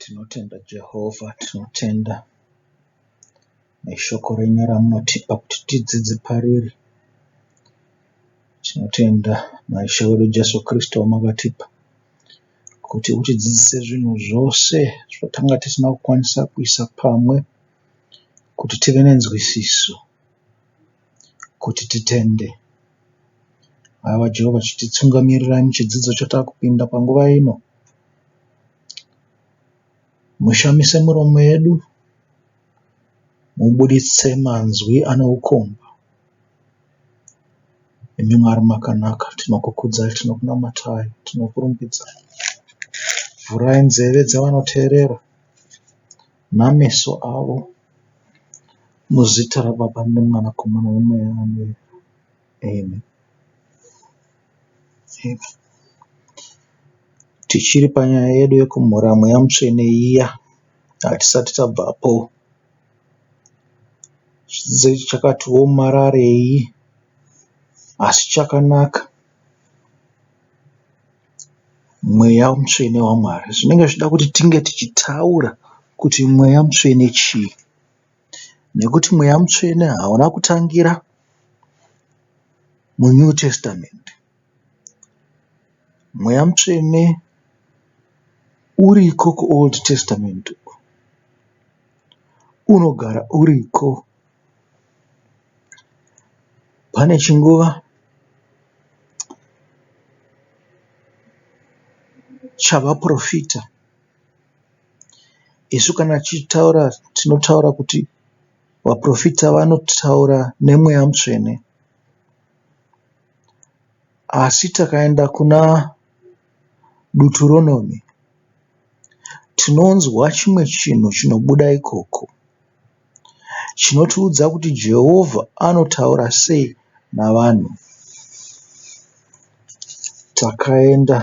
Tinotenda Jehovha, tinotenda neshoko renyu ramunotipa kuti tidzidze pariri. Tinotenda naIshe wedu Jesu Kristu wamakatipa kuti utidzidzise zvinhu zvose zvatanga tisina kukwanisa kuisa pamwe kuti tive nenzwisiso. kuti titende. Haiwa Jehovha chititungamirirei muchidzidzo chatava kupinda panguva ino. Mushamise miromo yedu, mubuditse manzwi ane ukomba. Imi Mwari makanaka, tinokukudzai, tinokunamatai, tinokurumbidzai. Vhurai nzeve dzevanoteerera nameso avo, muzita raBaba neMwanakomana neMweya Mutsvene. Amen. Amen. Tichiri panyaya yedu yekumhura Mweya Mutsvene iya, hatisati tabvapo. Zvidzidzo ichi chakati womararei, asi chakanaka. Mweya mutsvene waMwari. Zvinenge zvichida kuti tinge tichitaura kuti mweya mutsvene chii nekuti mweya mutsvene hauna kutangira muNew Testament. Mweya mutsvene uriko kuOld Testament uko, unogara uriko. Pane chinguva chavaporofita isu kana tichitaura tinotaura kuti vaporofita vanotaura nemweya mutsvene asi takaenda kuna Duturonome tinonzwa chimwe chinhu chinobuda ikoko. chinotiudza kuti Jehovha anotaura sei navanhu. Takaenda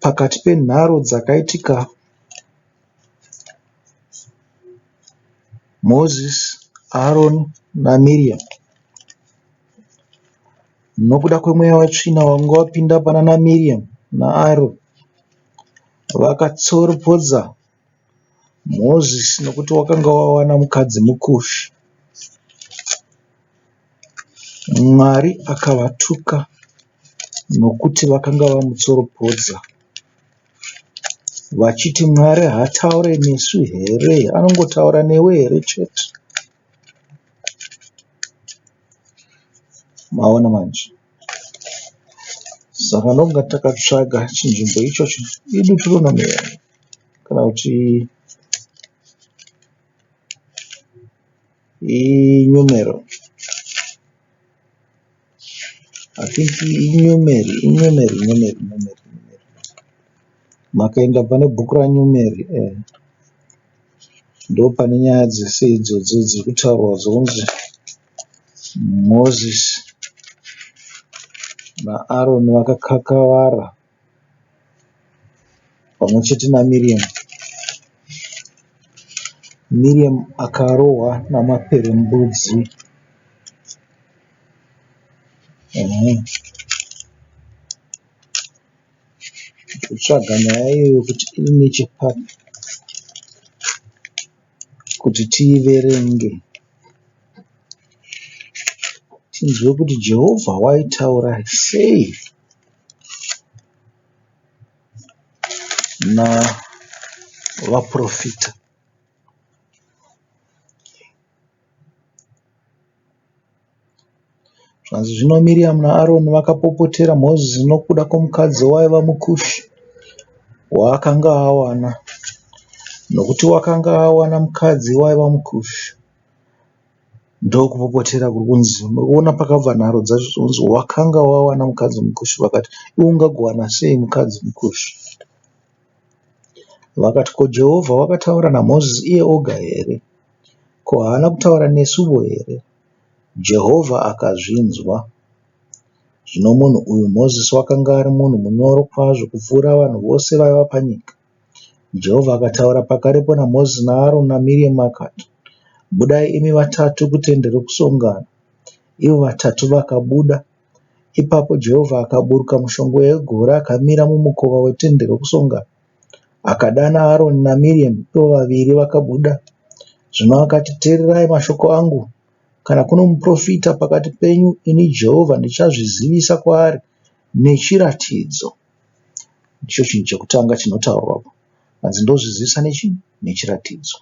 pakati penharo dzakaitika Moses, Aaron naMiriam nokuda kwemweya wetsvina wanga wapinda panana Miriam naAaron vakatsoropodza Moses nekuti wakanga wawana mukadzi muKush. Mwari akavatuka nekuti vakanga vamutsoropodza vachiti Mwari haataure nesu here anongotaura newe here chete. maona manje saka ndonga takatsvaga chinzvimbo ichocho idu tinonomera kana kuti inyomero Makaenda pane book raNyomeri eh ndopane nyaya dzese idzodzo dziri kutaurwa dzonzi Mozisi naAroni vakakakavara. pamwe chete naMiriam. Miriam akarohwa namaperembudzi. Kutsvaga nyaya iyoyo kuti iri nechepapi kuti tiiverenge tinzwe kuti Jehovha waitaura sei. navaporofita. Zvanzi zvino Miriamu naAroni vakapopotera Mozisi nokuda kwomukadzi waiva muKushi waakanga awana, nokuti wakanga awana mukadzi waiva muKushi. Ndokupopotera kuri kunzi unoona pakabva nharo dzacho zvokunzi wakanga wawana mukadzi mukushu vakati iwe ungagowana sei mukadzi mukushu. Vakati ko Jehovha wakataura naMozisi iye oga here? Ko haana kutaura nesuvo here? Jehovha akazvinzwa. Zvino munhu uyu Mozisi wakanga ari munhu munyoro kwazvo kupfuura vanhu vose vaiva panyika. Jehovha akataura pakarepo naMozisi naAroni naMiriamu akati, Budai imi vatatu kutende rokusongana. Ivo vatatu vakabuda. Ipapo Jehovha akaburuka mushongwe yegore akamira mumukova wetende rokusongana. Akadana Aroni naMiriamu, ivo vaviri vakabuda. Zvino akati, Teererai mashoko angu. Kana kuno muprofita pakati penyu, ini Jehovha ndichazvizivisa kwaari nechiratidzo. ndicho chinhu chekutanga chinotaurwa apa hanzi ndozvizivisa nechii nechiratidzo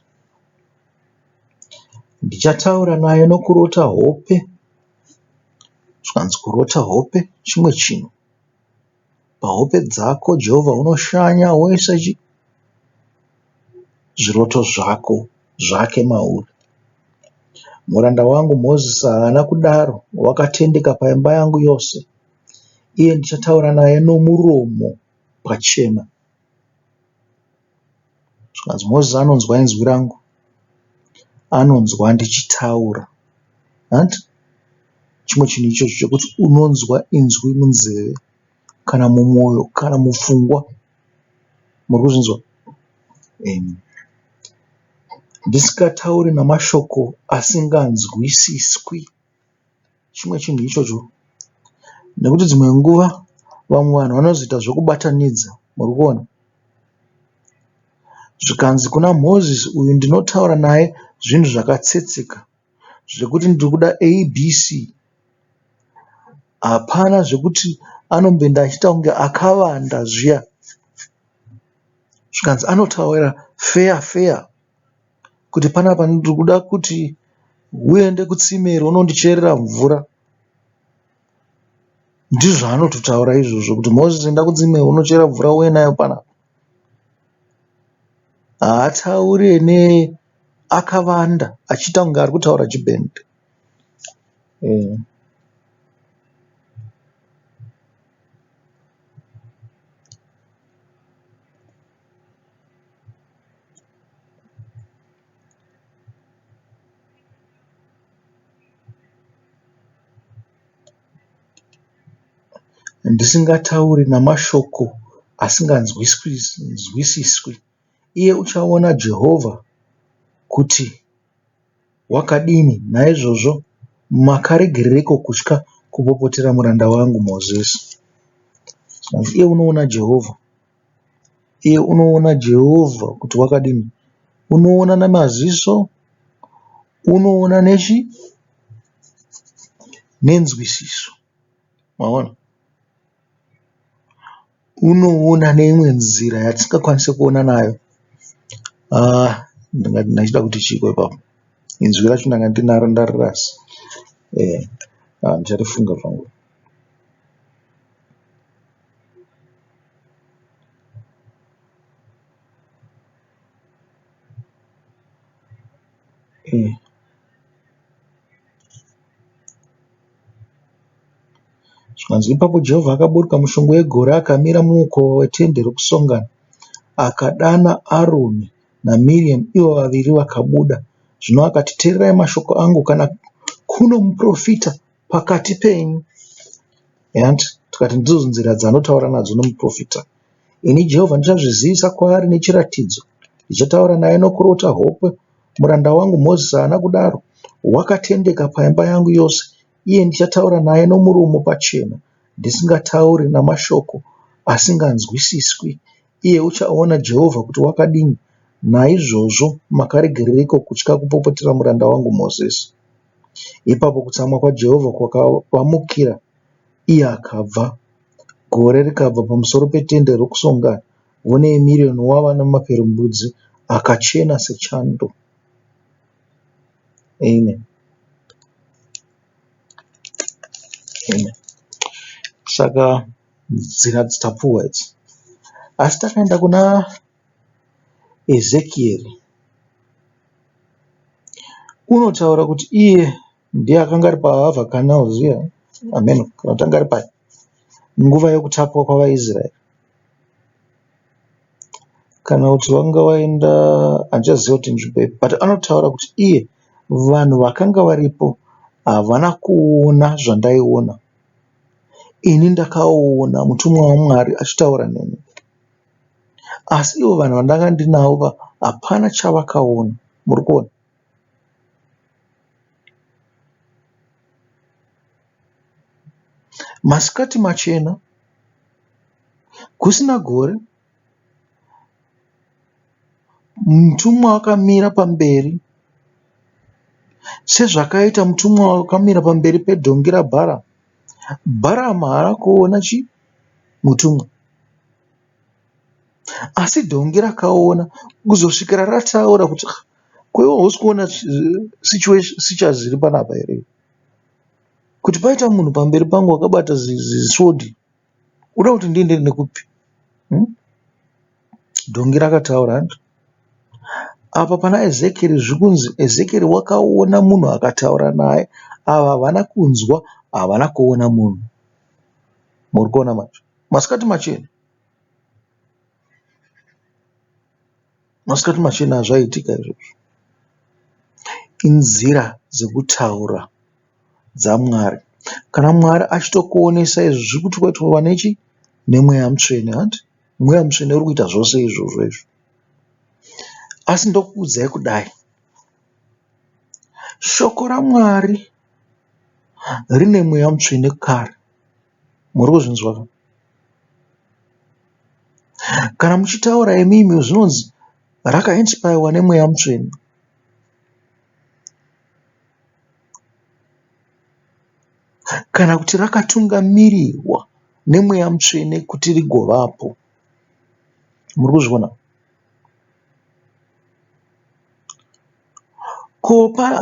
ndichataura naye nokurota hope zvikanzi kurota hope chimwe chinhu pahope dzako jehovha unoshanya woisa chi zviroto zvako zvake mauri muranda wangu mozisi haana kudaro wakatendeka paimba yangu yose iye ndichataura naye nomuromo pachena zvikanzi Moses anonzwa inzwi rangu anonzwa ndichitaura hanti chimwe chinhu ichocho chekuti unonzwa inzwi munzeve kana mumwoyo kana mupfungwa muri kuzvinzwa ndisikatauri nemashoko asinganzwisiswi. chimwe chinhu ichocho nekuti dzimwe nguva vamwe vanhu vanozoita zvekubatanidza murikuona zvikanzi kuna Moses uyu ndinotaura naye zvinhu zvakatsetseka zvekuti ndiri kuda ABC hapana zvekuti anomboenda achiita kunge akavanda zviya zvikanzi anotaura feya feya. kuti panapa ndiri kuda kuti uende kutsime iri unondicherera mvura. Ndizvo zvaanototaura izvozvo kuti Mozisi enda kutsime iri unochera mvura uuye nayo panapa. Haatauri ane akavanda achiita kunge ari kutaura chibhende. ndisingatauri namashoko asinganzwisiswi, iye uchaona Jehovha kuti wakadini. Naizvozvo makaregereiko kutya kupopotera muranda wangu Mozisi? Iye unoona Jehovha. iye unoona Jehovha kuti wakadini. Unoona nemaziso, unoona nechi nenzwisiso. Maona? Unoona neimwe nzira yatisingakwanise kuona nayo. Aah ndingati ndachida kuti chiiko ipapo. Inzwi racho ndanga ndinaro ndarirasa. Eeh aah ndicharifunga zvangu. Mm. zvikanzi ipapo jehovha akaburuka mushongo wegore akamira mumukowa wetende rokusongana akadana aroni namiriam ivo vaviri vakabuda zvino akati teererai mashoko angu kana kuno muprofita pakati penyu hanti tikati ndidzo nzira dzanotaura nadzo nomuprofita ini jehovha ndichazvizivisa kwaari nechiratidzo ndichataura naye nokurota hope muranda wangu mozisi haana kudaro wakatendeka paimba yangu yose iye ndichataura naye nomurumo pachena ndisingatauri namashoko asinganzwisiswi iye uchaona jehovha kuti wakadini naizvozvo makaregereiko kutya kupopotera muranda wangu mozisi Ipapo kutsamwa kwaJehovha kwakavamukira, iye akabva. Gore rikabva pamusoro petende rokusongana, one yemirioni wavana maperembudzi akachena sechando. Amen. Amen. Saka nzira dzitapuwa idzi. Asi takaenda kuna Ezekieri unotaura kuti iye ndiye akanga ari paAva Canal zviya hameno kana kuti anga ari papi nguva yekutapwa kwavaIsraeri kana kuti wanga waenda handichaziva kuti inzvimbo ipi but anotaura kuti iye vanhu vakanga varipo havana kuona zvandaiona ini ndakaona mutumwa waMwari achitaura neni. asi ivo vanhu vandanga ndinavo hapana chavakaona muri kuona. Masikati machena kusina gore mutumwa akamira pamberi sezvakaita mutumwa wakamira pamberi pedhongi rabharamu. Bharamu haana kuona chinhu. mutumwa. Asi dhongi rakaona kuzosvikira rataura kuti ah ko iwe hausi kuona situation iri panapa here kuti paita munhu pamberi pangu akabata zisword unoda kuti ndiende nekupi. Dhongi rakataura hanzi apa pana Ezekieri zviri kunzi Ezekieri wakaona munhu akataura naye. Ava havana kunzwa havana kuona munhu. Murikuona manje masikati machena. Masikati machena zvaitika izvozvo. Inzira dzekutaura dzaMwari. Kana Mwari achitokuonesa izvi zvirikuti waitova nechi? Nemweya mutsvene hanti? Mweya mutsvene urikuita zvose izvozvo izvi. Asi ndokuudzai kudai. Shoko raMwari rine mweya mutsvene kare. Muri kuzvinzwa here? Kana muchitaura imimi zvinonzi raka inipayariwa nemweya mutsvene. Kana kuti rakatungamirirwa nemweya mutsvene kuti rigovapo. Muri kuzviona? Ko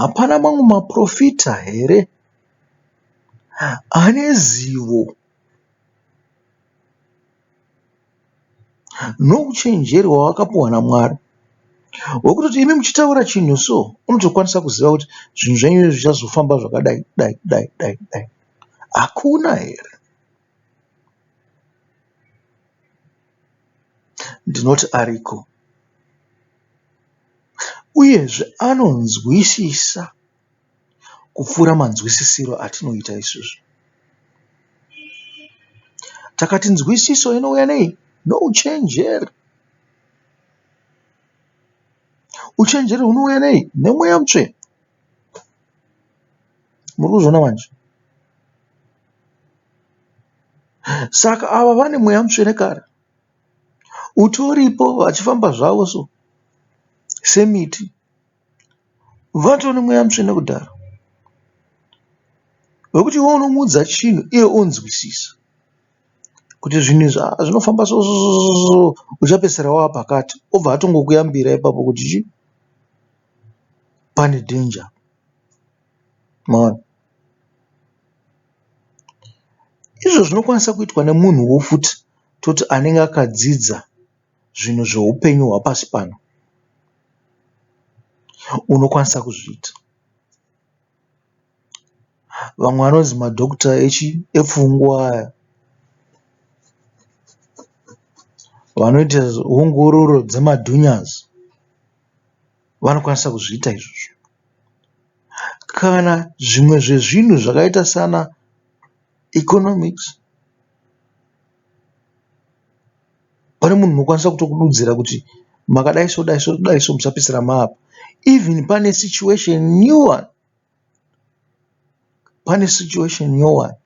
hapana mamwe maporofita here ane zivo nouchenjeri hwavakapiwa naMwari hwekutoti imi muchitaura chinhu so unotokwanisa kuziva kuti zvinhu zvenyu izvi zvichazofamba zvakadai dai dai dai dai? Hakuna here? Ndinoti ariko. Uyezve anonzwisisa kupfuura manzwisisiro atinoita isusu. Takati nzwisiso inouya nei? Nouchenjeri. Uchenjeri hunouya nei? Nemweya mutsvene. Muri kuzviona manje? Saka ava vane mweya mutsvene kare. Utoripo vachifamba zvavo so semiti. Vatove nemweya mutsvene kudhara wekuti iwe unomuudza chinhu iye onzwisisa kuti zvinhu izvi aa zvinofamba so so so uchapedzisira wava pakati obva atongokuyambira ipapo kuti chii pane danger. Maona? Izvo zvinokwanisa kuitwa nemunhuwo futi toti anenge akadzidza zvinhu zveupenyu hwapasi pano unokwanisa kuzviita. Vamwe vanonzi madhokota epfungwa aya vanoita ongororo dzemadhunyasi. vanokwanisa kuzviita izvozvo. Kana zvimwe zvezvinhu zvakaita sana Economics pane munhu unokwanisa kutokududzira kuti makadai so dai so dai so musapedzisira maapa even pane situation new one. pane situation nyowani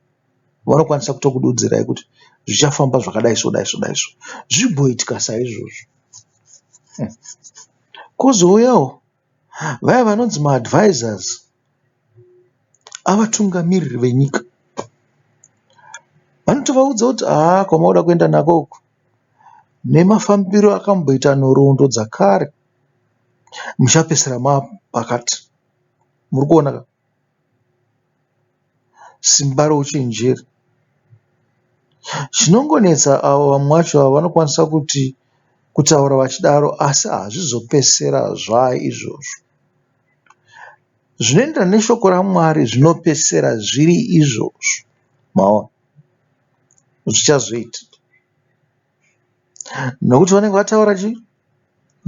vanokwanisa kutokududzirai kuti zvichafamba zvakadai so dai so dai so zvimboitika saizvozvo. Kozouyawo vaya vanonzi maadvisors avatungamiriri venyika vanotovaudza kuti haa kwamauda kuenda nako uku nemafambiro akamboita nhoroondo dzakare muchapedzisira mapakati. muri kuona ka simba rouchenjeri. Chinongonetsa avo vamwe vacho ava vanokwanisa kuti kutaura vachidaro asi hazvizopedzisira zvaa izvozvo. Zvinoenderana neshoko raMwari zvinopedzisira zviri izvozvo maona zvichazoitika. Nokuti vanenge vataura chii?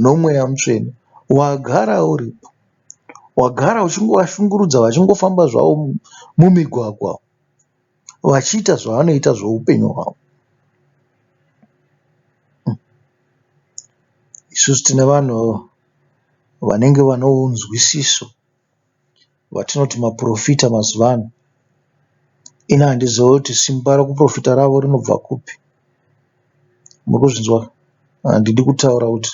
Nomweya mutsvene. Wagara uripo. Wagara uchingovashungurudza vachingofamba zvavo mumigwagwa vachiita zvavanoita zvoupenyu hwavo. Isusu tine vanhu vanenge vane unzwisiso. vatinoti maporofita mazuva ano. Ini handizive kuti simba rekuporofita ravo rinobva kupi. Murikuzvinzwa handidi kutaura kuti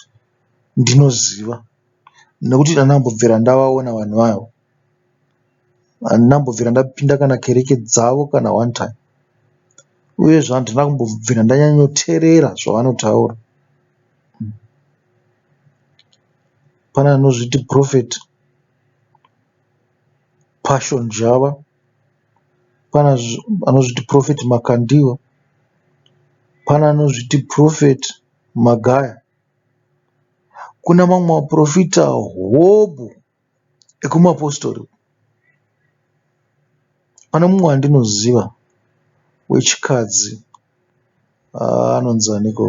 ndinoziva nekuti ini handina kumbobvira ndavaona vanhu ivavo. Handina kumbobvira ndapinda kana kereke dzavo kana one time. Uyezve handina kumbobvira ndanyanyoteerera zvavanotaura. Pane anozviti purofeti. Passion Java, pane anozviti Prophet Makandiwa, pane anozviti Prophet Magaya. Kune mamwe maporofita hobho ekumapositori. Pane mumwe wandinoziva wechikadzi Aah anonzi aniko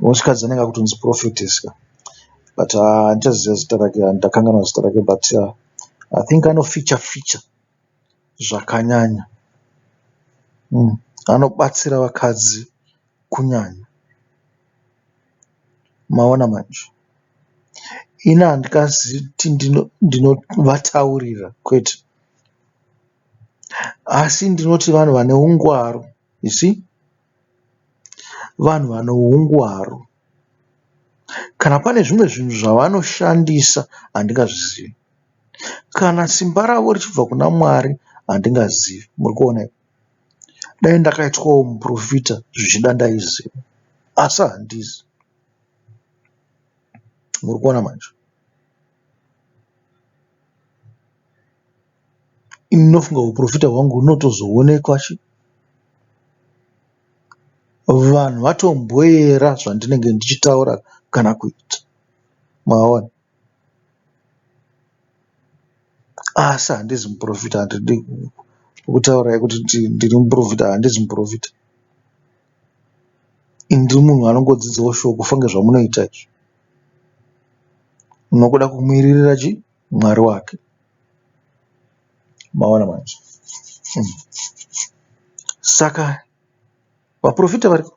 wechikadzi anenge akutonzi Prophetess ka but aah andichaziva zita rake ndakanganwa zita rake but aah I think ano ficha ficha zvakanyanya umm anobatsira vakadzi kunyanya maona manje ini handingazivi kuti ndinovataurira kwete. Asi ndinoti vanhu vane ungwaru you see. Vanhu vane ungwaru. Kana pane zvimwe zvinhu zvavanoshandisa handingazvizivi. Kana simba ravo richibva kuna Mwari handingazivi. Muri kuona here. Dai ndakaitwawo muporofita zvichida ndaiziva asi handisi. Muri kuona manje. Ini ndinofunga huporofita hwangu hunotozoonekwa sha. Vanhu vatomboera zvandinenge ndichitaura kana kuita maona. Asi handizi muporofita handidi kukutaurai kuti ndiri muporofita handizi muporofita. Ini ndiri munhu anongodzidzawo shoko kufa nezvamunoita izvi. Munoda kumuviririra chii? Mwari wake. Maona manje. Saka vaporofita variko.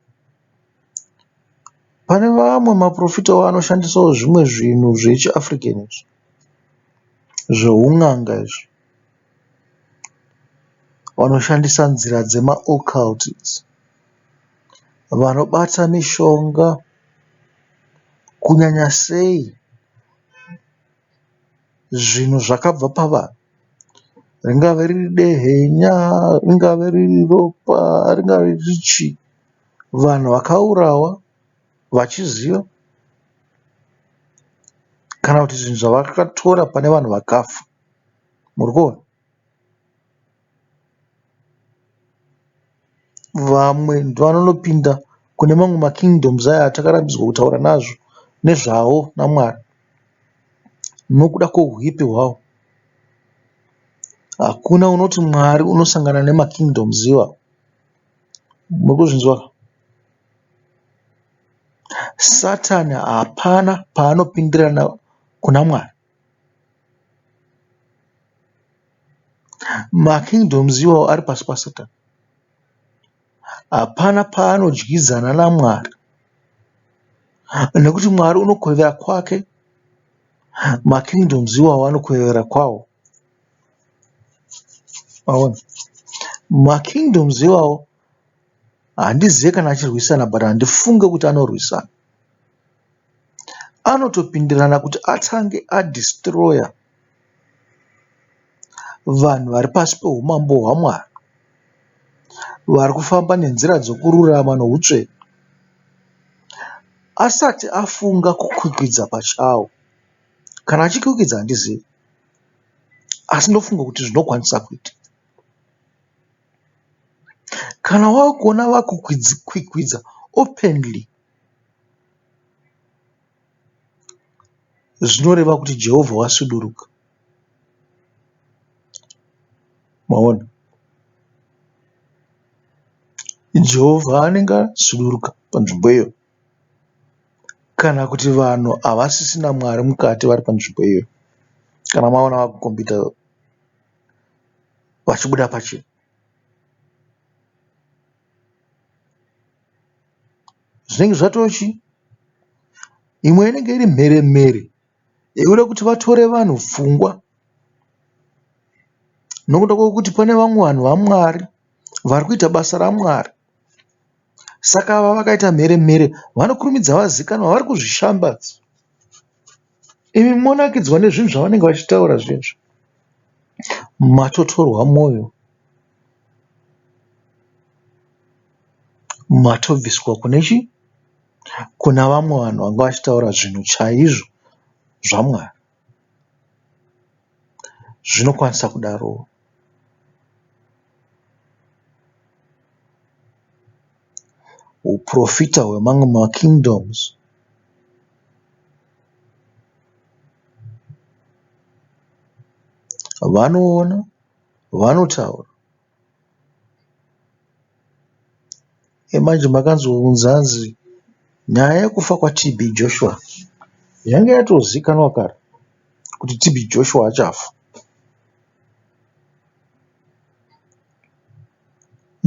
Pane vamwe maporofitawo anoshandisawo zvimwe zvinhu zvechiAfrican izvi. Zveun'anga izvi. Vanoshandisa nzira dzemaoccult idzi. Vanobata mishonga kunyanya sei. zvinhu zvakabva pavanhu ringave riri dehenya ringave riri ropa ringave riri chii. Vanhu vakaurawa vachiziva kana kuti zvinhu zvavakatora pane vanhu vakafa. Murikuona? Vamwe ndovanopinda kune mamwe ma kingdoms aya atakarambidzwa kutaura nezvawo naMwari nokuda kwehuipi hwawo. Hakuna unoti Mwari unosangana nema kingdoms iwayo. Murikuzvinzwa ka. Satan hapana paanopindira kuna Mwari. Makingdoms iwayo ari pasi paSatani. Hapana paanodyidzana naMwari nekuti Mwari unokwevera kwake, makingdoms iwayo anokwevera kwawo. Makingdoms iwayo. Handizive kana achirwisana but handifunge kuti anorwisana. Anotopindirana kuti atange a destroyer vanhu vari pasi pehumambo hwaMwari vari kufamba nenzira dzekururama nehutsvene asati afunga kukwikwidza pachawo. Kana achikwikwidza handizive asi ndofunga kuti zvinokwanisa kuitika. Kana wakuona vakukwikwidza openly zvinoreva kuti Jehovha wasuduruka. Maona? Jehovha anenge asuduruka panzvimbo iyoyo kana kuti vanhu havasisina Mwari mukati vari panzvimbo iyoyo kana maona vakukombidza. vachibuda pachena. Zvinenge zvatochi imwe inenge iri mhere mhere yekuda kuti vatore vanhu pfungwa nokuda kwekuti pane vamwe vanhu vaMwari vari kuita basa raMwari. Saka ava vakaita mhere mhere vanokurumidza vazikanwa vari kuzvishambadza. Imi monakidzwa nezvinhu zvavanenge vachitaura zviya izvo. Matotorwa moyo. Matobviswa kune chi? Kuna vamwe vanhu vanga vachitaura zvinhu chaizvo zvaMwari. Zvinokwanisa kudaroo. Uprofita hwemamwe ma kingdoms. Vanoona, vanotaura. Manje makanzi hunzi hanzi nyaya yekufa kwaTB Joshua yanga yatozikanwa kare kuti TB Joshua achafa.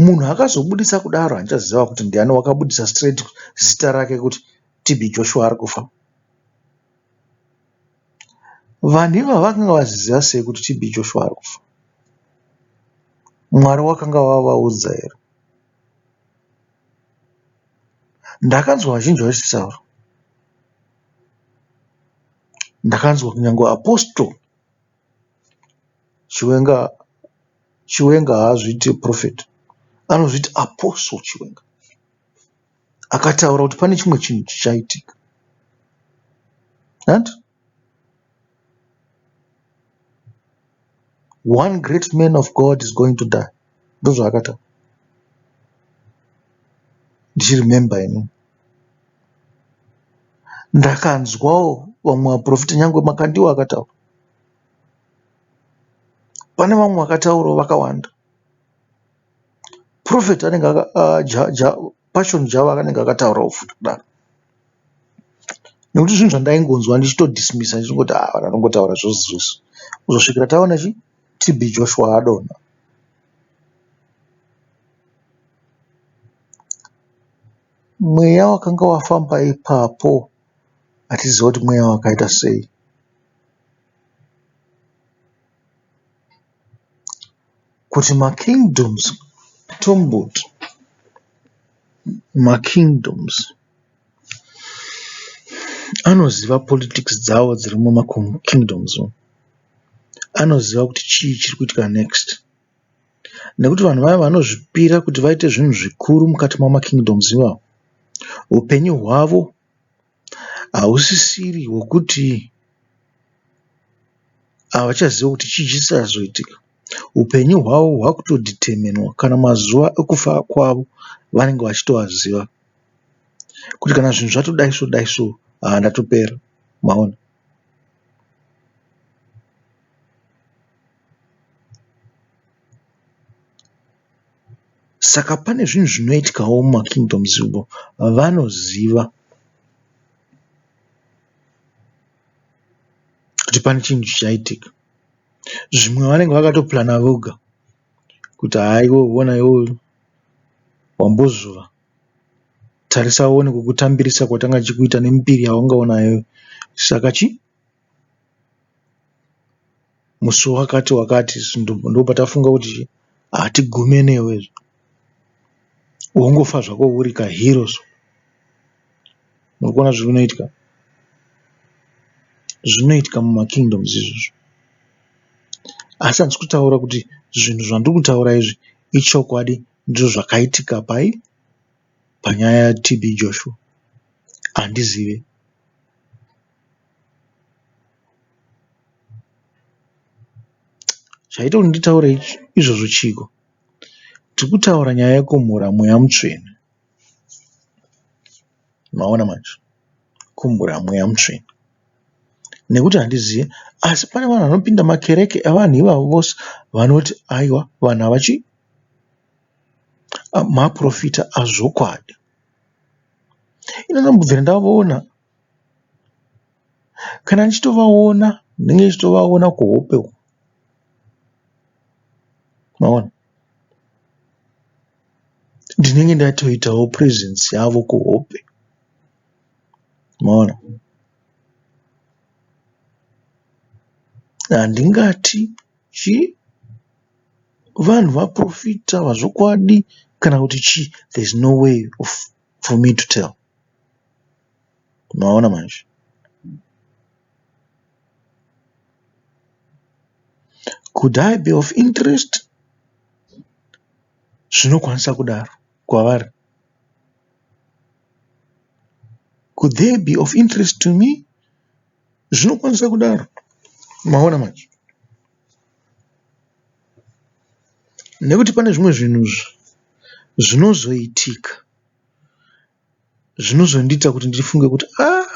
Munhu akazobuditsa kudaro handichaziva kuti ndiani wakabuditsa straight zita rake kuti TB Joshua arikufa. Vanhu ivava vakanga vaziva sei kuti TB Joshua ari kufa? Mwari wakanga wavaudza here? Ndakanzwa vazhinji vachitaura. Ndakanzwa kunyangwe Apostle Chiwenga, Chiwenga haazviite Prophet, anozviita Apostle Chiwenga. Akataura kuti pane chimwe chinhu chichaitika and one great man of God is going to die ndozvaakataura ndichiremember ini ndakanzwawo vamwe vaprofita nyange makandiwo akataura pane vamwe vakataurawo vakawanda Prophet anenge Passion Java anenge akataurawo futi kudaro nekuti zvinhu zvandaingonzwa ndichito dismisa ndichingoti haa vanhu vanongotaura zvese zvese kuzosvikira taona chii TB Joshua adonha. Mweya wakanga wafamba ipapo hatiziva kuti mweya wakaita sei. kuti makingdoms tomboti makingdoms anoziva politics dzawo dziri mumakingdoms umu. Anoziva kuti chii chiri kuitika next nekuti vanhu vaya vanozvipira kuti vaite zvinhu zvikuru mukati memakingdoms iwayo hupenyu hwavo. hausisiri hwekuti havachaziva kuti chii chichazoitika. Hupenyu hwavo hwakutodhiteminwa kana mazuva ekufa kwavo vanenge vachitoaziva kuti kana zvinhu zvatodai so dai so haa ndatopera, maona. Saka pane zvinhu zvinoitwawo muma kingdoms umo vanoziva kuti pane chinhu chichaitika. Zvimwe vanenge vakato purana voga kuti haa iwe hona iwe uyu wambozuva tarisa uone kukutambirisa kwatanga tichikuita nembiri yawanga unayo saka chii. musi wakati wakati ndopatafunga kuti hatigume newe izvo wongofa zvako uri ka hero so. Muri kuona zviri kunoitika? Zvinoitika muma kingdoms izvozvo. Asi handisi kutaura kuti zvinhu zvandiri kutaura izvi ichokwadi ndizvo zvakaitika pai? panyaya yaTB Joshua. Handizive. Chaita kuti nditaure izvozvo chiiko? Tiri kutaura nyaya yekumhura mweya mutsvene. Maona manje? Kumhura mweya mutsvene. Nekuti handizive asi pane vanhu vanopinda makereke evanhu ivavo vose vanoti aiwa vanhu ava chii? Maporofita azvokwadi. Ini ndambobvira ndavaona. Kana ndichitovaona ndinenge ndichitovaona kuhope uko maona. Ndinenge ndatoitawo purezenzi yavo kuhope maona. Handingati chii vanhu vaporofita ava zvokwadi kana kuti chii there is no way of. for me to tell maona manje could i be of interest zvinokwanisa kudaro kwavari could they be of interest to me zvinokwanisa kudaro maona manje Nekuti pane zvimwe zvinhu zvinozoitika zvinozondiita kuti ndifunge kuti aah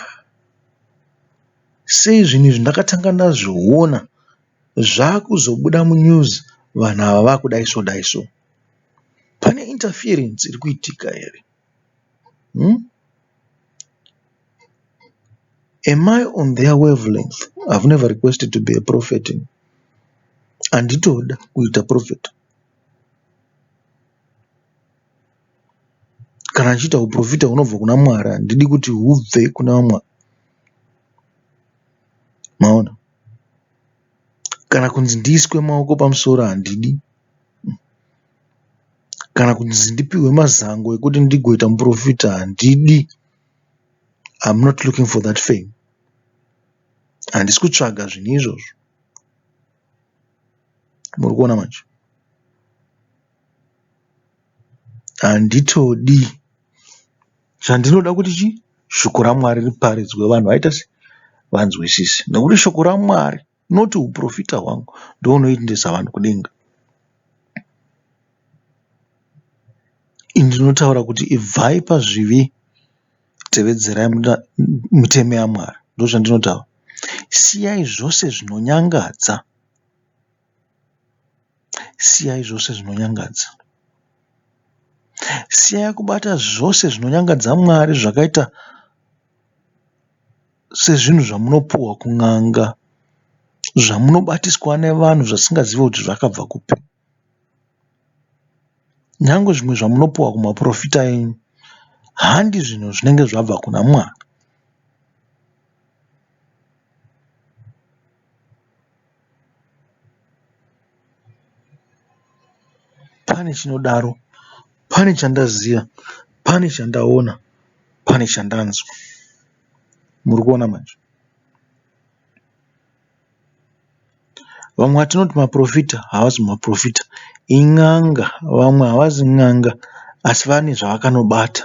sei zvinhu izvi ndakatanga ndazviona zvakuzobuda munews vanhu ava vakudayi so dayi so. Pane interference irikuitika here. umm am I on their wave length I've never requested to be a prophet ini handitoda kuita prophet kana ndichiita huporofita hunobva kuna Mwari handidi kuti hubve kuna vamwe vanhu maona kana kunzi ndiiswe maoko pamusoro handidi umm. Kana kunzi ndipihwe mazango ekuti ndigoita muporofita handidi. I am not looking for that fame. Handisi kutsvaga zvinhu izvozvo. Muri kuona manje? Handitodi. Chandinoda kuti chii? Shoko raMwari riparidzwe vanhu vaite sei? Vanzwisise. Nekuti shoko raMwari not huprofita hwangu ndohunoendesa vanhu kudenga. Ini ndinotaura kuti ibvai pazvivi tevedzerai mitemo yaMwari. Ndozvandinotaura. Siyai zvose zvinonyangadza. Siyai zvose zvinonyangadza. Siyai kubata zvose zvinonyangadza Mwari zvakaita sezvinhu zvamunopuhwa kun'anga zvamunobatiswa nevanhu zvatingazive kuti zvakabva kupi. Nyangwe zvimwe zvamunopuhwa kumaporofita enyu handi zvinhu zvinenge zvabva kuna Mwari. Pane chinodaro, pane chandaziva, pane chandaona, pane chandanzwa. murikuona manje. Vamwe vatinoti maporofita havasi maporofita in'anga. Vamwe havasi n'anga asi vane zvavakanobata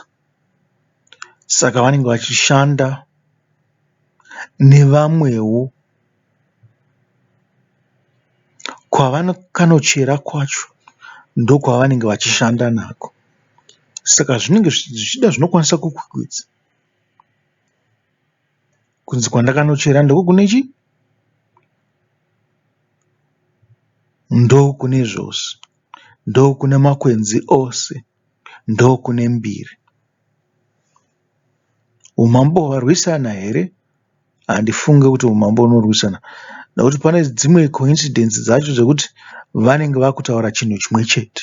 saka vanenge vachishanda nevamwewo. Kwavakanochera kwacho ndokwavanenge vachishanda nako saka zvinenge zvichida zvinokwanisa kukwikwidzwa. Kunzi kwandakanochera ndiko kune chii? Ndokune zvose. Ndokune makwenzi ose. Ndokune mbiri. Umambo hwarwisana here? Handifunge kuti umambo hunorwisana nekuti pane dzimwe coincidence dzacho dzekuti vanenge vakutaura chinhu chimwe chete.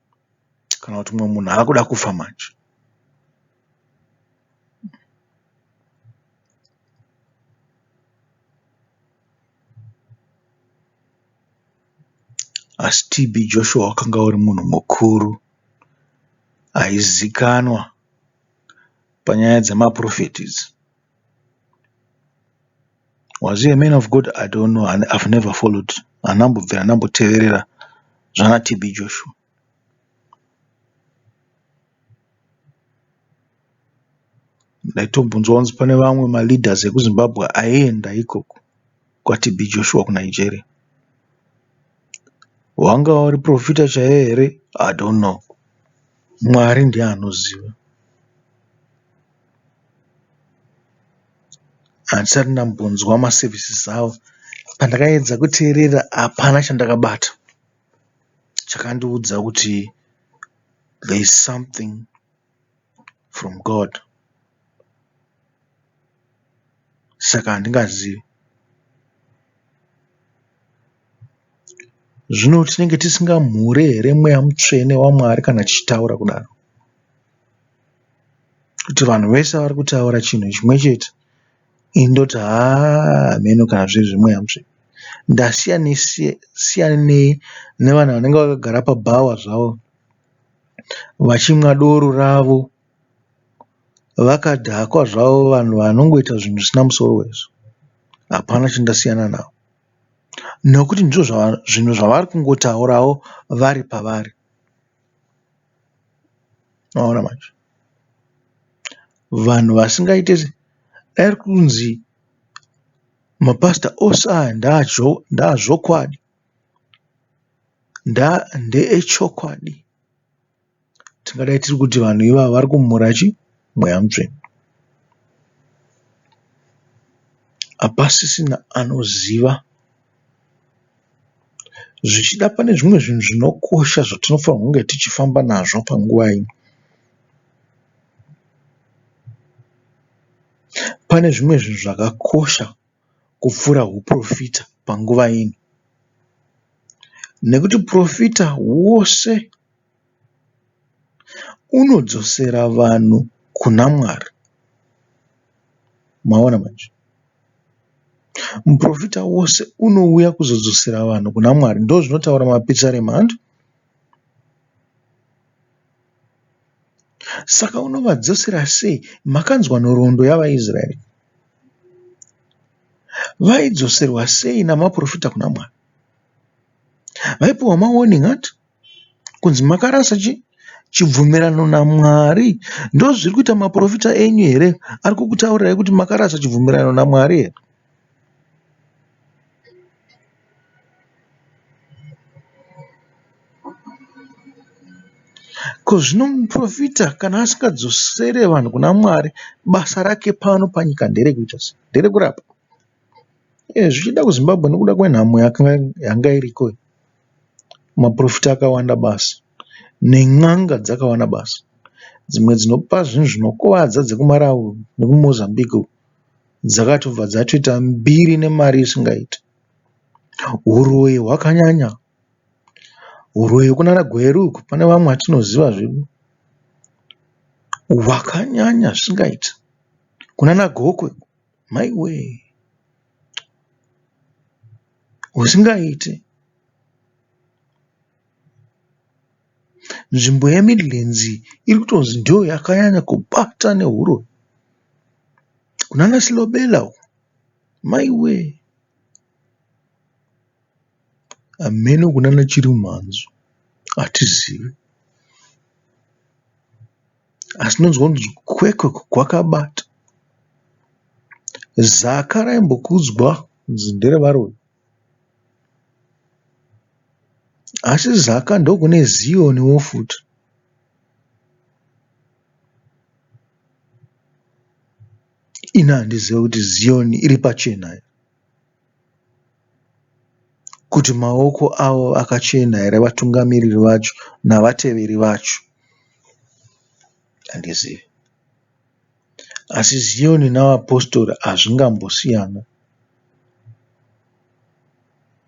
kana kuti mumwe munhu akuda kufa manje. Asi TB Joshua wakanga uri munhu mukuru aizikanwa panyaya dzemaporofeti idzi. Was he a man of God? I don't know. I've never followed. Handambobvira ndamboteverera zvana TB Joshua. Ndaitombonzwa kunzi pane vamwe maleaders ekuZimbabwe aienda ikoko kwaTB Joshua kuNigeria. Wanga uri profita chaiye here? I don't know. Mwari ndiye anoziva. Handisati ndambonzwa ma services avo. Pandakaedza kuteerera hapana chandakabata chakandiudza kuti there is something from God. Saka handingazivi. Zvino tinenge tisingamhure here mweya mutsvene waMwari kana tichitaura kudaro? Kuti vanhu vese vari kutaura chinhu chimwe chete ini ndoti haa hameno kana zviri zvimwe hanzi. Ndasiyanei nevanhu vanenge vakagara pabhawa zvavo vachimwa doro ravo vakadhakwa zvavo vanhu vanongoita zvinhu zvisina musoro izvo. Hapana chandasiyana navo nekuti ndizvo zvinhu zvavari kungotaurawo vari pavari. Maona manje vanhu vasingaite dai kunzi mapasita ose aya ndeazvokwadi ndeechokwadi tingadai tiri kuti vanhu ivava vari kumhura chii? mweya mutsvene. Hapasisina anoziva. Zvichida pane zvimwe zvinhu zvinokosha zvatinofanirwa kunge tichifamba nazvo panguva ino. Pane zvimwe zvinhu zvakakosha kupfuura huporofita panguva ino nekuti porofita hwose. Unodzosera vanhu kuna Mwari. Maona manje. Muporofita wose unouya kuzodzosera vanhu kuna Mwari. Ndozvinotaura mapisarema hanti. Saka unovadzosera sei? Makanzwa nhoroondo yavaIsraeri. Vaidzoserwa sei namaporofita kuna Mwari? Vaipiwa mawarning hanti. kunzi makarasa chii chibvumirano naMwari ndozviri kuita maporofita enyu here ari kukutaurirai kuti makarasa chibvumirano naMwari here. Ko zvino muporofita kana asingadzosere vanhu kuna Mwari basa rake pano panyika nderekuita sei? Nderekurapa. Eh zvichida kuZimbabwe nekuda kwenhamo yanga iriko iyi. maporofita akawanda basa nen'anga dzakawanda basa. Dzimwe dzinopa zvinhu zvinokuvadza dzekuMalawi nekuMozambique uko dzakatobva dzatoita mbiri nemari isingaite. Huroyi hwakanyanya, huroyi kunana Gweru uko pane vamwe vatinoziva zvedu hwakanyanya zvisingaite kunana Gokwe. Maiwee husingaite. Nzvimbo yeMidlands iyi iri kutonzi ndiyo yakanyanya kubata nehuroyi. Kunana Silobela uko maiwee. Hameno kunana Chirimumhanzu hatizivi. asi ndinonzwa kunzi kwekwe kwakabata. Zaka raimbokudzwa kunzi ndere varoyi asi Zaka ndokune Zion wo futi. Ini handizive kuti Zion iri pachena here. kuti maoko avo akachena here vatungamiriri vacho navateveri vacho handizivi asi Zion navapositori hazvingambosiyana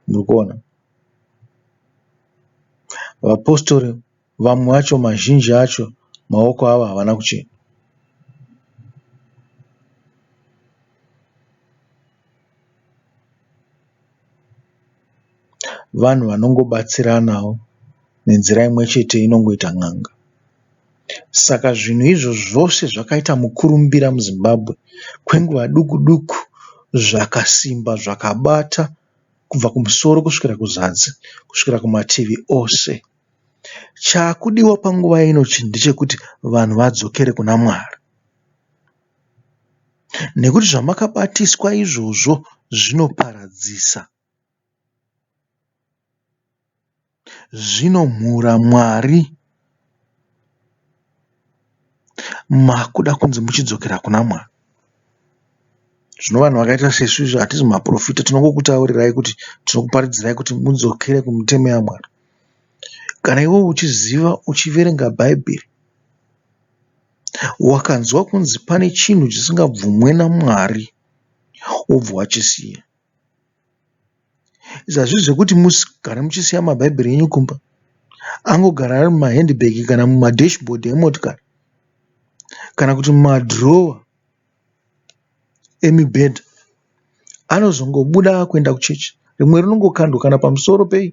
murikuona vapositori Vamwe vacho mazhinji acho maoko avo havana kuchena. Vanhu vanongobatsiranawo nenzira imwe chete inongoita n'anga. Saka zvinhu izvozvo zvose zvakaita mukurumbira muZimbabwe kwenguva duku duku zvakasimba zvakabata kubva kumusoro kusvika kuzasi kusvika kumativi ose. Chakudiwa panguva ino ndechekuti vanhu vadzokere kuna Mwari nekuti zvamakabatiswa izvozvo zvinoparadzisa. Zvinomhura Mwari. Makuda kunzi muchidzokera kuna Mwari. Zvino vanhu vakaita sesu izvo hatisi maporofita tinongokutaurirai kuti tinokuparidzirai kuti mudzokere kumitemo yaMwari. Kana iwewe uchiziva uchiverenga bhaibheri wakanzwa kunzi pane chinhu chisingabvumwe naMwari wobva wachisiya. Izvi hazvisi zvekuti mugare muchisiya mabhaibheri enyu kumba. Angogara ari mumahendibhegi kana mumadheshibhodhi emotikari kana kuti mumadhirowa emibhedha. Anozongobuda akuenda kuchechi. Rimwe rinongokandwa kana pamusoro pei.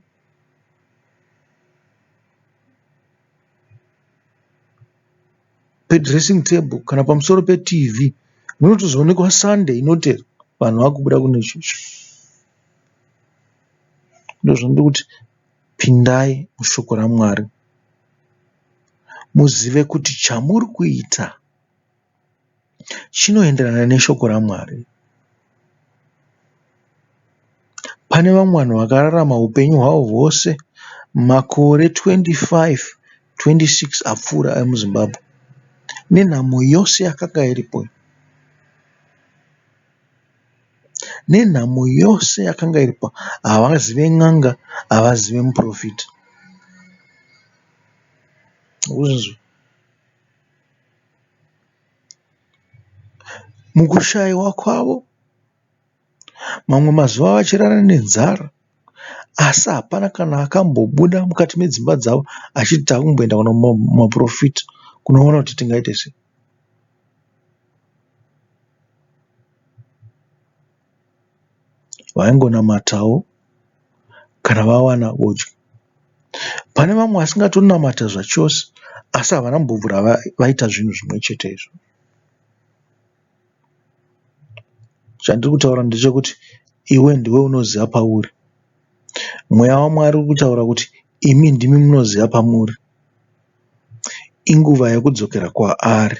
Pedhiresi tebho kana pamusoro peTV munotozoonekwa sande inoti vanhu vakubuda kune chechi. Ndozvandiri kuti pindai mushoko raMwari muzive kuti chamuri kuita. chinoenderana neshoko raMwari. Pane vamwe vanhu vakararama hupenyu hwavo hwose makore 25, 26 apfuura emuZimbabwe nenhamo yose yakanga iripo iyi, nenhamo yose yakanga iripo havazive n'anga havazive muporofita. Mukushaiwa kwavo mamwe mazuva vachirara nenzara asi hapana kana akambobuda mukati medzimba dzavo achiti takumboenda kuno maporofita kunoona kuti tingaite sei. vaingonamatawo kana vawana vodya. Pane vamwe vasingatonamata zvachose asi havana kumbobvira vaita zvinhu zvimwe chete izvo. Chandiri kutaura ndechekuti iwe ndiwe unoziva pauri. Mweya waMwari uri kutaura kuti imi ndimi munoziva pamuri. Inguva yekudzokera kwaari.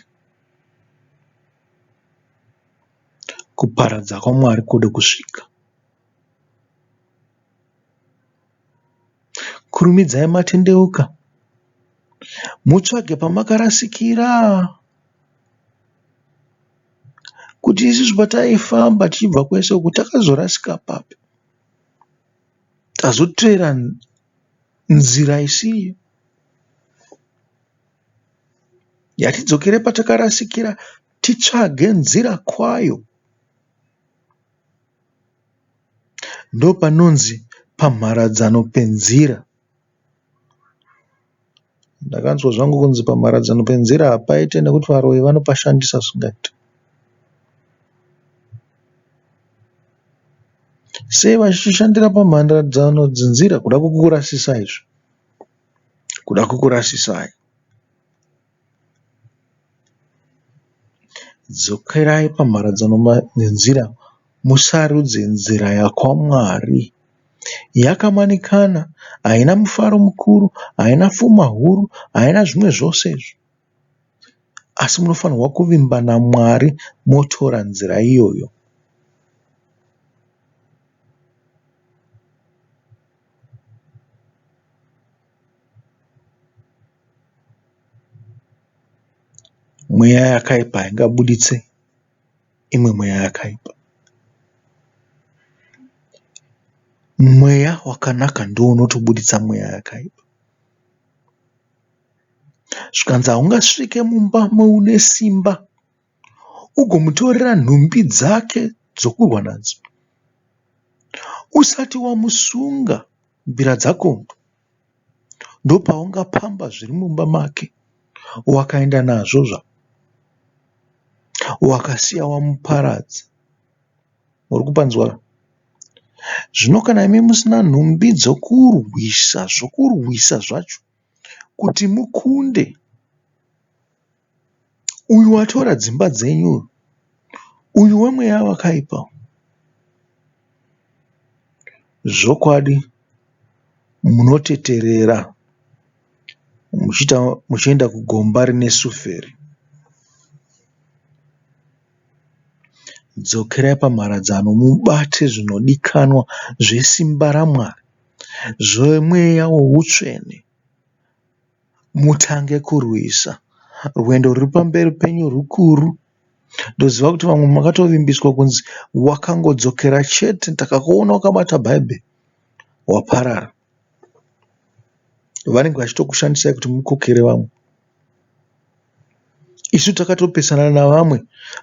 Kuparadza kwaMwari kode kusvika. Kurumidzai matendeuka, mutsvage pamakarasikira. Kuti isusu pataifamba tichibva kwese uku takazorasika papi? Tazoteera nzira isiyo. Ngatidzokere patakarasikira. Titsvage nzira kwayo ndopanonzi pamharadzano penzira. Ndakanzwa zvangu kunzi pamharadzano penzira hapaite nekuti varoyi vanopashandisa zvisingaite. Sei vachishandira pamharadzano dzenzira kuda kukurasisai izvo. Kuda kukurasisai. Dzokerai pamharadzano nenzira, musarudze nzira yakwaMwari. Yakamanikana, haina mufaro mukuru, haina fuma huru, haina zvimwe zvose izvo. Asi munofanirwa kuvimba naMwari motora nzira iyoyo. Mweya yakaipa haingabuditse imwe mweya yakaipa. Mweya wakanaka ndiwo unotobuditsa mweya yakaipa. Zvikanzi haungasvike mumba moune simba ugomutorera nhumbi dzake dzokurwa nadzo usati wamusunga. Mbira dzako ndopaunga pamba zviri mumba make wakaenda nazvo zvako wakasiya wamuparadza uri kupanzwa zvino kana imi musina nhumbi dzokurwisa zvokurwisa zvacho kuti mukunde. Uyu watora dzimba dzenyu uyu. Uyu wemweya wakaipa uyu. Zvokwadi munoteterera muchienda kugomba rine suferi. Dzokerai pamharadzano mubate zvinodikanwa zvesimba raMwari zvemweya weutsvene. mutange kurwisa. Rwendo ruri pamberi penyu rukuru. Ndoziva kuti vamwe makatovimbiswa kunzi wakangodzokera chete takakuona wakabata bhaibheri waparara. Vanenge vachitokushandisai kuti mukokere vamwe. Isu takatopesana navamwe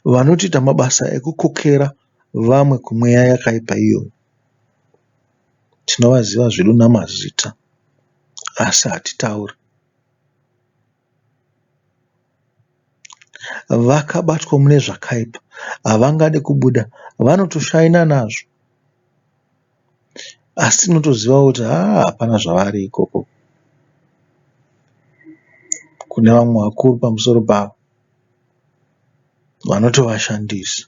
vanotoita mabasa ekukokera vamwe kumweya yakaipa iyoyo. Tinovaziva zvedu namazita asi hatitauri. Vakabatwa mune zvakaipa havangade kubuda vanotoshaina nazvo asi tinotoziva kuti haa hapana zvavari ikoko kune vamwe vakuru pamusoro pavo vanotovashandisa.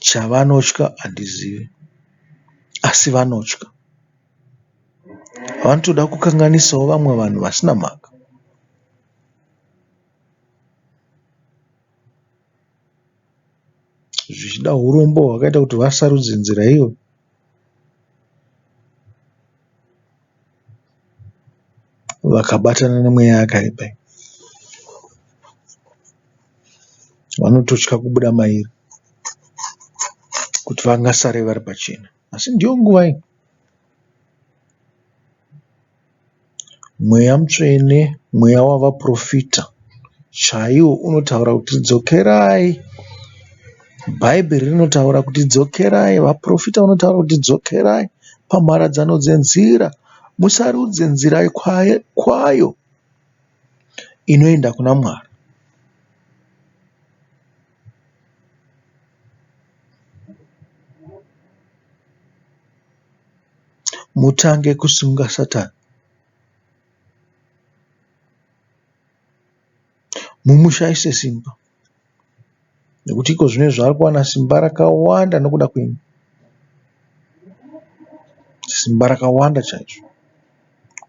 Chavanotya handizive asi vanotya. Vanotoda kukanganisawo vamwe vanhu vasina mhaka. Zvichida hurombo hwakaita kuti vasarudze nzira iyoyo. Vakabatana nemweya yakaipa iyi. Vanototya kubuda mairi kuti vangasare vari pachena asi ndiyo nguva iyi. Mweya mutsvene, mweya wavaporofita chaiwo unotaura kuti dzokerai. Bhaibheri rinotaura kuti dzokerai, vaporofita vanotaura kuti dzokerai pamharadzano dzenzira, musarudze nzira kwayo inoenda kuna Mwari. Mutange kusunga Satani. Mumushaise simba. nekuti ikozvino izvi ave kuwana simba rakawanda nekuda kwesimba rakawanda chaizvo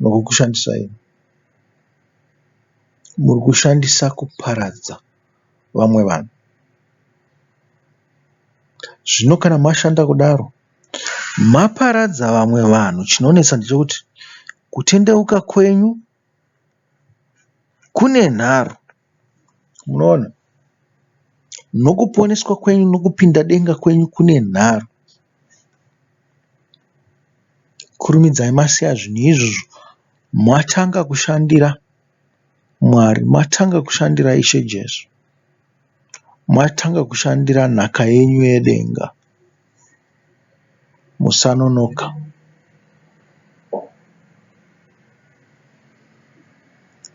nokushandisa iro muri kushandisa kuparadza vamwe vanhu. Zvino kana mashanda kudaro maparadza vamwe vanhu chinonetsa ndechekuti kutendeuka kwenyu kune nharo. Munoona? Nokuponeswa kwenyu nokupinda denga kwenyu kune nharo. Kurumidzai masiya zvinhu izvozvo. Matanga kushandira Mwari. Matanga kushandira Ishe Jesu. Matanga kushandira nhaka yenyu yedenga. musanonoka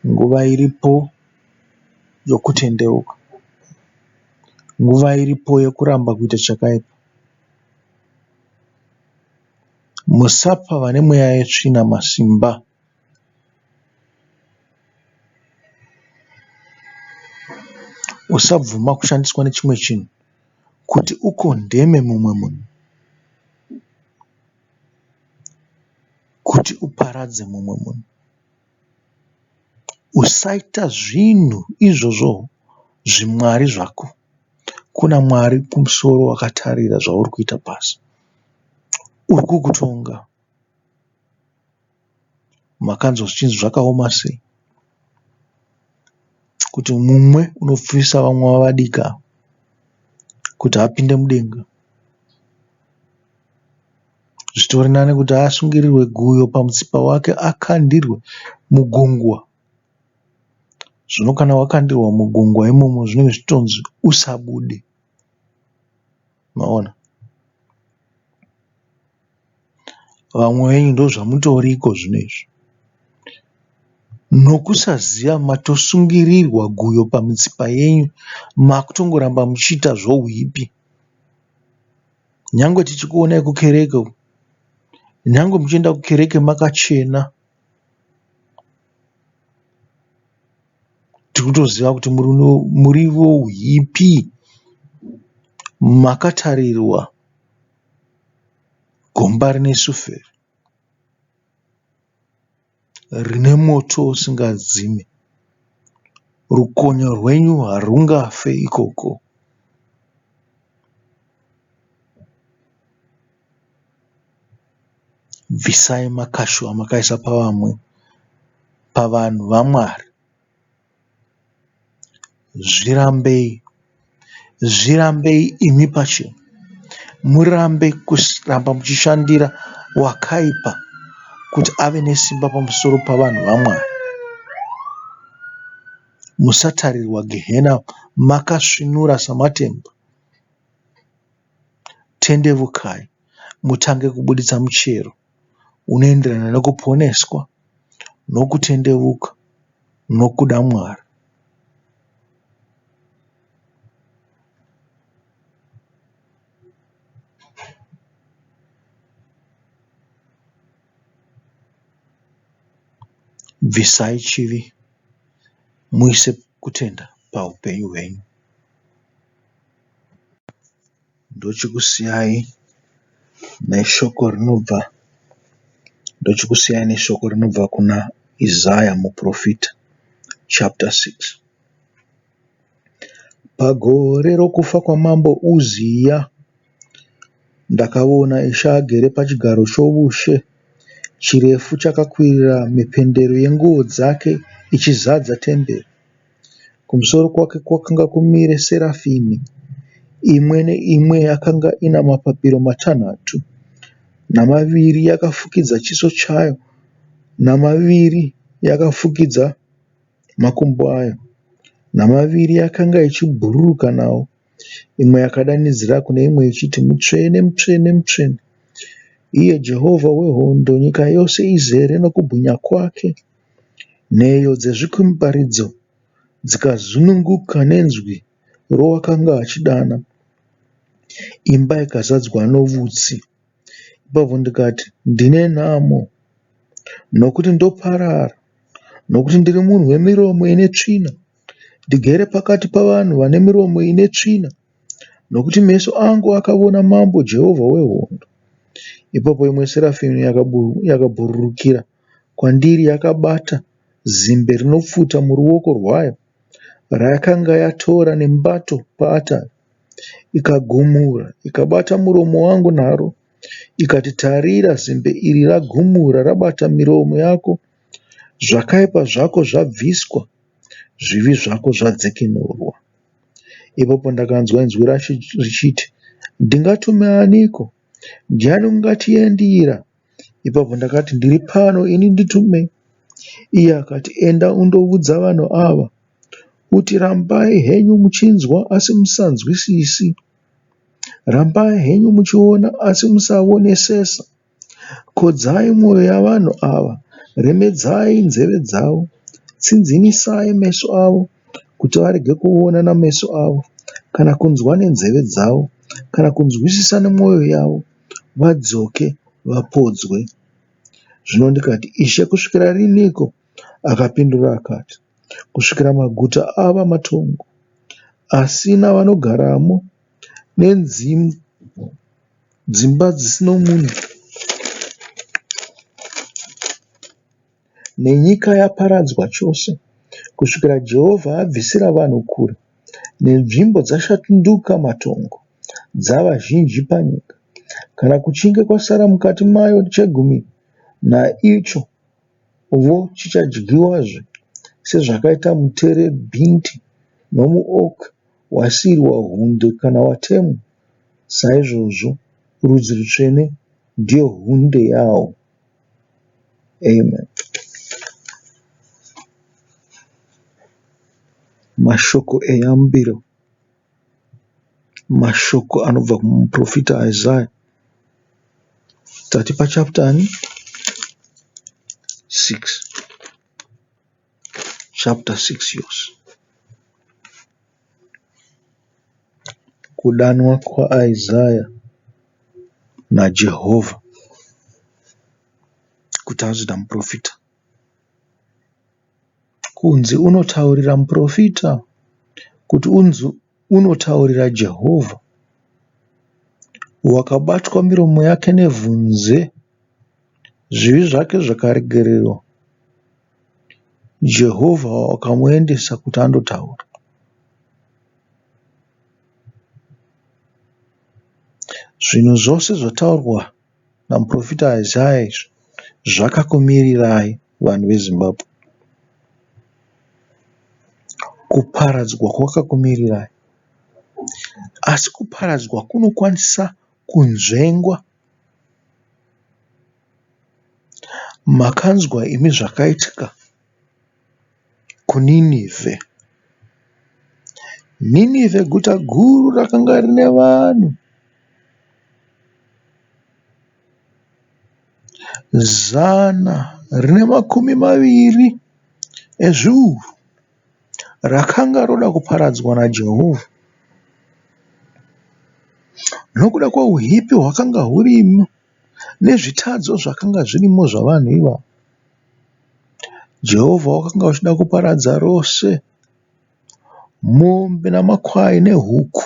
nguva iripo yokutendeuka nguva iripo yokuramba kuita chakaipa musapa vane mweya yetsvina masimba. Usabvuma kushandiswa nechimwe chinhu. Kuti u condemne mumwe munhu, kuti uparadze mumwe munhu, usaita zvinhu izvozvo zvimwari zvako. Kuna Mwari kumusoro wakatarira zvauri kuita pasi. Uri kukutonga. Makanzwa zvichinzi zvakaoma sei kuti mumwe unopfuvisa vamwe wavadiki ava kuti apinde mudenga. Zvitori nani kuti asungirirwe guyo pamutsipa wake akandirwe mugungwa. Zvino kana wakandirwa mugungwa imomo zvinenge zvichitonzi usabude. maona vamwe venyu ndozvamutoriko zvinezvi nokusaziva matosungirirwa guyo pamitsipa yenyu makutongoramba muchiita zvohwipi nyangwe tichikuonai kukereke uko nyangwe muchienda kukereke makachena. Tiri kutoziva kuti muriwo uhipi. Makatarirwa gomba rine suferi rine moto usingadzime. Rukonyo rwenyu harwungafe ikoko. Bvisai makashu amakaisa pavamwe pavanhu vaMwari. Zvirambei. Zvirambei imi pachenyu. Murambe kuramba muchishandira wakaipa kuti ave nesimba pamusoro pavanhu vaMwari. Musatarirwa gehena makasvinura samatemba. Tendevukai mutange kubuditsa muchero unoenderana nekuponeswa nokutendeuka nokuda Mwari. Bvisai chivi muise kutenda paupenyu hwenyu. Ndochikusiyayi neshoko rinobva Ndochikusiyayi neshoko rinobva kuna Isaya muporofita chapita 6 Pagore rokufa kwaMambo Uziya ndakaona Ishe agere pachigaro choushe, chirefu chakakwirira mhependero yenguo dzake ichizadza temberi. Kumusoro kwake kwakanga kumire serafimi imwe neimwe yakanga ine mapapiro matanhatu namaviri yakafukidza chiso chayo namaviri yakafukidza makumbo ayo namaviri yakanga ichibhururuka nawo imwe yakadanidzira kune imwe ichiti mutsvene mutsvene mutsvene iye Jehovha wehondo nyika yose izere nekubwinya kwake. Nheyo dzezvikumbaridzo dzikazununguka nenzwi rowakanga achidana. Imba ikazadzwa nevutsi. Ipapo ndikati, Ndine nhamo nokuti ndoparara nokuti ndiri munhu wemiromo ine tsvina. Ndigere pakati pavanhu vane miromo ine tsvina nokuti meso angu akaona Mambo Jehovha wehondo. Ipapo imwe serafi yakabhururukira. kwandiri yakabata zimbe rinopfuta muruoko rwayo rayakanga yatora nemubato paatari ikagumura ikabata muromo wangu naro ikati tarira zimbe iri ragumura rabata miromo yako zvakaipa zvako zvabviswa zvivi zvako zvadzikinurwa. Ipapo ndakanzwa inzwi racho richiti ndingatume aniko? Jane ungatiendira ipapo ndakati ndiri pano ini nditume iye akati enda undoudza vanhu ava kuti rambai henyu muchinzwa asi musanzwisisi rambai henyu muchiona asi musaonesesa kodzai mwoyo yavanhu ava remedzai nzeve dzavo tsinzinisai meso avo. kuti varege kuona nameso avo kana kunzwa nenzeve dzavo kana kunzwisisa nemwoyo yavo vadzoke vapodzwe. Zvino ndikati, Ishe, kusvikira riniko? Akapindura akati, Kusvikira maguta ava matongo, asina vanogaramo, nedzimba dzisino munhu. nenyika yaparadzwa chose, kusvikira Jehovha abvisira vanhu kure, nenzvimbo dzashanduka matongo, dzava zhinji panyika, kana kuchinge kwasara mukati mayo chegumi naicho, vo chichadyiwazve, sezvakaita muterebhinti nomuok wasiri wahunde kana watemwa, saizvozvo rudzi rutsvene ndiyo hunde yawo. Amen. Mashoko eyambiro, mashoko anobva kumuprofita Isaya. Tati pachaputani 6. Chapter 6 yours Kudanwa kwaIsaya naJehovha kuti anzi namuporofita. Kunzi unotaurira muporofita kuti unzwe. unotaurira Jehovha wakabatwa miromo yake nevhunze, zvivi zvake zvakaregererwa, Jehovha wakamuendesa kuti andotaura. Zvinhu zvose zvataurwa namuporofita Isaya izvi zvakakumirirai. vanhu veZimbabwe. Kuparadzwa kwakakumirirai asi kuparadzwa kunokwanisa kunzvengwa. Makanzwa imi zvakaitika kuNineveh. Nineveh guta guru rakanga rine vanhu. Zana rine makumi maviri ezviuru rakanga roda kuparadzwa naJehovha nokuda kwouipi hwakanga hurimo nezvitadzo zvakanga zvirimo zvavanhu ivavo. Jehovha wakanga uchida kuparadza rose mombe namakwai nehuku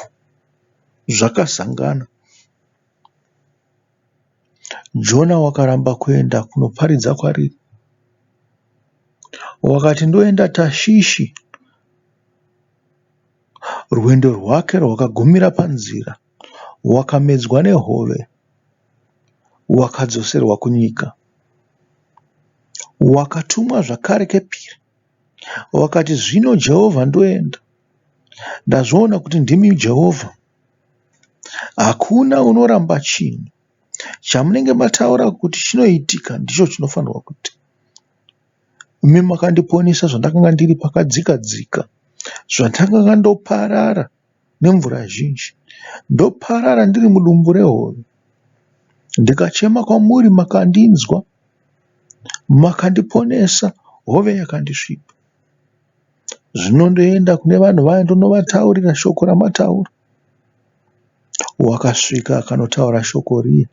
zvakasangana. Jona wakaramba kuenda kunoparidza kwariri. Wakati ndoenda Tashishi. Rwendo rwake rwakagumira panzira. Wakamedzwa nehove. Wakadzoserwa kunyika. Wakatumwa zvakare kepiri. Wakati zvino Jehovha ndoenda. Ndazviona kuti ndimi Jehovha. Hakuna unoramba chinhu. Chamunenge mataura kuti chinoitika ndicho chinofanirwa kuitika. Imi makandiponesa zvandakanga ndiri pakadzika dzika, zvandakanga ndoparara nemvura zhinji, ndoparara ndiri mudumbu rehove. Ndikachema kwamuri makandinzwa, makandiponesa hove yakandisvipa. zvinondoenda kune vanhu vaya ndonovataurira shoko ramataura. Wakasvika akanotaura shoko riye.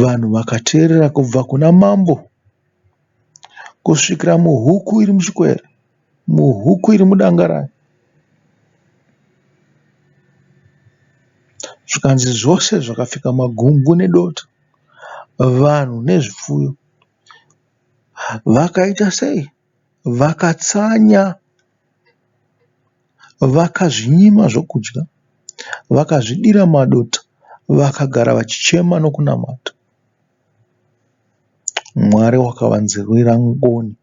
Vanhu vakateerera kubva kuna mambo kusvikira muhuku iri muchikwere, muhuku iri mudanga rayo. Zvikanzi zvose zvakapfeka magungu nedota, vanhu nezvipfuyo. Vakaita sei? Vakatsanya, vakazvinyima zvokudya, vakazvidira madota, vakagara vachichema nokunamata. Mwari wakavanzwira ngoni,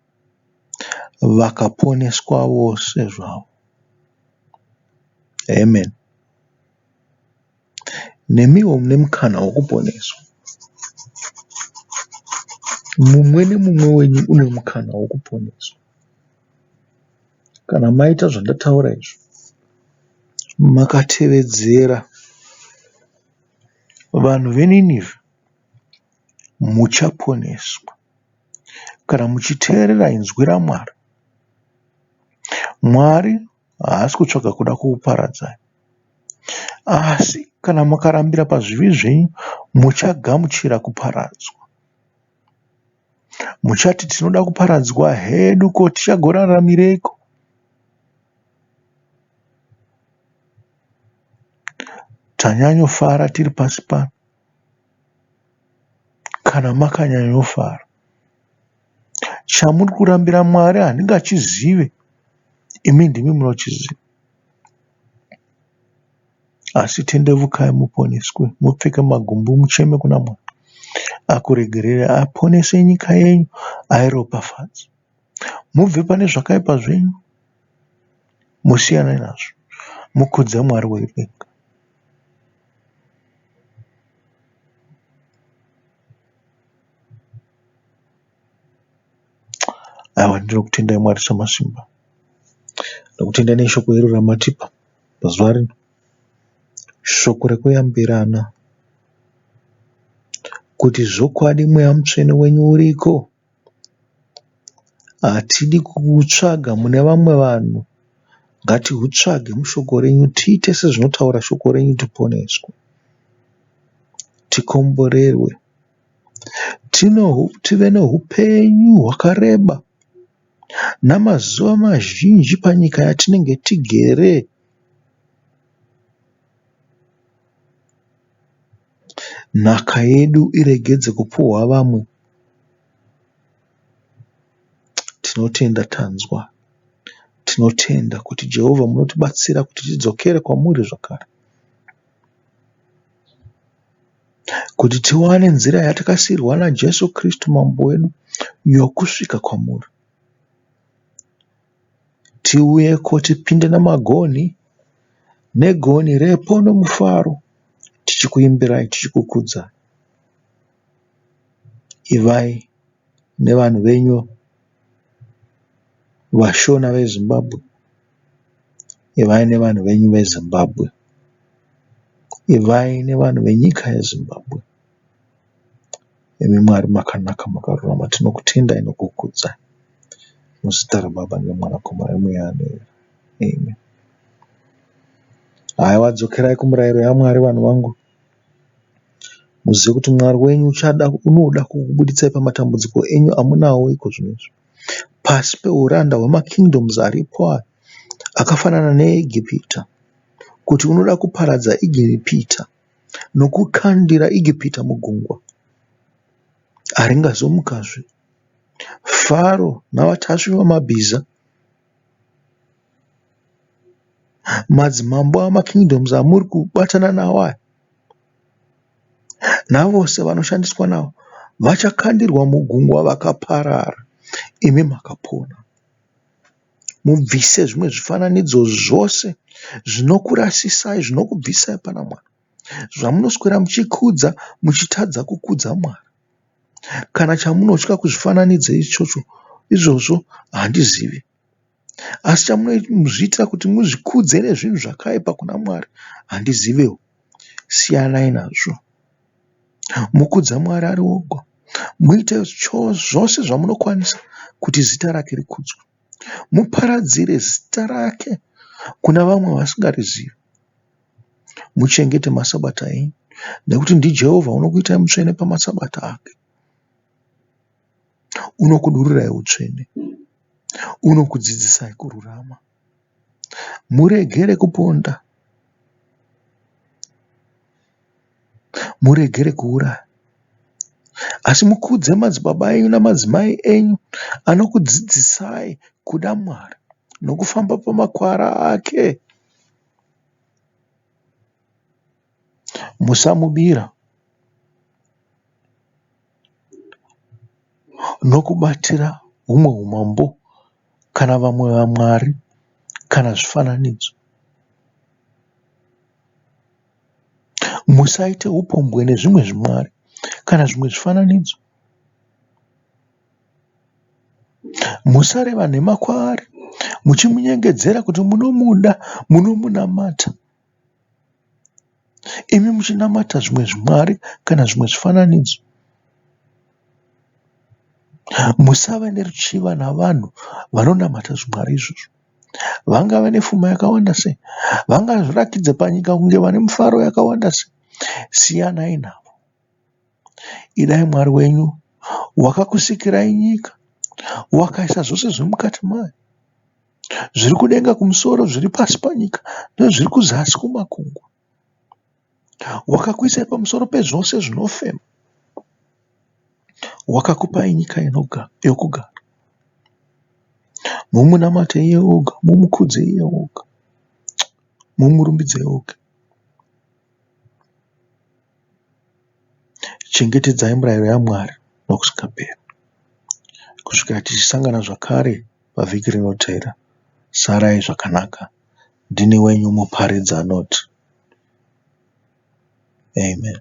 vakaponeswa vose zvavo. Amen. Nemiwo mune mukana wokuponeswa. Mumwe nemumwe wenyu une mukana wokuponeswa. Kana maita zvandataura izvi, makatevedzera vanhu veNineveh, muchaponeswa. Kana muchiteerera inzwi raMwari, Mwari haasi kutsvaga kuda kukuparadzai. Asi kana mukarambira pazvivi zvenyu, muchagamuchira kuparadzwa. Muchati, Tinoda kuparadzwa hedu, ko tichagoraramireiko? Tanyanyofara tiri pasi pano. kana makanyanyofara. Chamuri kurambira Mwari handingachizive, imi ndimi munochiziva. Asi tendeukai muponeswe, mupfeke magumbo, mucheme kuna Mwari, akuregererei, aponese nyika yenyu, airopafadze. Mubve pane zvakaipa zvenyu mosiyana nazvo mokudza Mwari wedenga. Aiwa ndinokutendai Mwari Samasimba. Ndinokutendai neshoko iro ramatipa pazuva rino. Shoko rekuyambirana kuti zvokwadi mweya mutsvene wenyu uriko. Hatidi kuhutsvaga mune vamwe vanhu ngatihutsvage mushoko renyu tiite sezvinotaura shoko renyu tiponeswe tikomborerwe tive nehupenyu hwakareba namazuva mazhinji panyika yatinenge tigere. Nhaka yedu iregedze kupfuhwa vamwe. Tinotenda tanzwa. Tinotenda kuti Jehovah munotibatsira kuti tidzokere kwamuri zvakare. Kuti tiwane nzira yatakasiirwa naJesu Kristu Mambo wedu yokusvika kwamuri. Tiuyeko tipinde namagonhi negonhi repo nemufaro tichikuimbirai tichikukudzai. Ivai nevanhu venyu vashona veZimbabwe. Ivai nevanhu venyu veZimbabwe. Ivai nevanhu venyika yeZimbabwe. Imi Mwari makanaka makarurama tinokutendai nokukudzai muzita raBaba neMwanakomana neMweya anoera Amen Haiwa dzokerai kumurayiro yaMwari vanhu vangu muzive kuti Mwari wenyu uchada unoda kukubuditsai pamatambudziko enyu amunawo iko zvino izvi pasi peuranda hwemakingdoms aripo aya akafanana neEgipita kuti unoda kuparadza Egipita nokukandira Egipita mugungwa, haringazomukazve. Faro navatasvi vamabhiza, madzimambo amakingdoms amuri kubatana nawo aya, navose vanoshandiswa navo, vachakandirwa mugungwa vakaparara, imi makapona. Mubvise zvimwe zvifananidzo zvose zvinokurasisai, zvinokubvisai pana Mwari. Zvamunoswera muchikudza muchitadza kukudza Mwari. Kana chamunotya kuzvifananidzo ichocho izvozvo handizivi. Asi chamunozviitira kuti muzvikudze nezvinhu zvakaipa kuna Mwari handizivewo. Siyanai nazvo. Mukudze Mwari ari oga. Muite zvose zvamunokwanisa kuti zita rake rikudzwe. Muparadzire zita rake kuna vamwe vasingarizivi. Muchengete maSabata enyu nekuti ndiJehovha unokuitai mutsvene pamaSabata ake. Unokudururai utsvene. Unokudzidzisai kururama. Muregere kuponda. Muregere kuuraya. Asi mukudze madzibaba enyu nemadzimai enyu anokudzidzisai kuda Mwari nokufamba pamakwara ake. Musamubira. nokubatira humwe humambo kana vamwe vamwari kana zvifananidzo. Musaite upombwe nezvimwe zvimwari kana zvimwe zvifananidzo. Musareva nhema kwaari muchimunyengedzera kuti munomuda, munomunamata. Imi muchinamata zvimwe zvimwari kana zvimwe zvifananidzo musava neruchiva navanhu vanonamata zvimwari izvozvo. Vangave nepfuma yakawanda sei, vangazviratidze panyika kunge vane mufaro yakawanda sei, siyanai navo. Idai Mwari wenyu wakakusikirai nyika, wakaisa zvose zviri mukati mayo. zviri kudenga kumusoro, zviri pasi panyika, nezviri kuzasi kumakungwa. Wakakuisai pamusoro pezvose zvinofema, wakakupai nyika yokugara. Mumunamate iye oga, mumukudze iye oga, mumurumbidze iye oga. Chengetedzai mirayiro yaMwari nokusingaperi, kusvikira tichisangana zvakare pavhiki rinotevera. Sarai zvakanaka. Ndini wenyu Muparidzi anoti, Amen.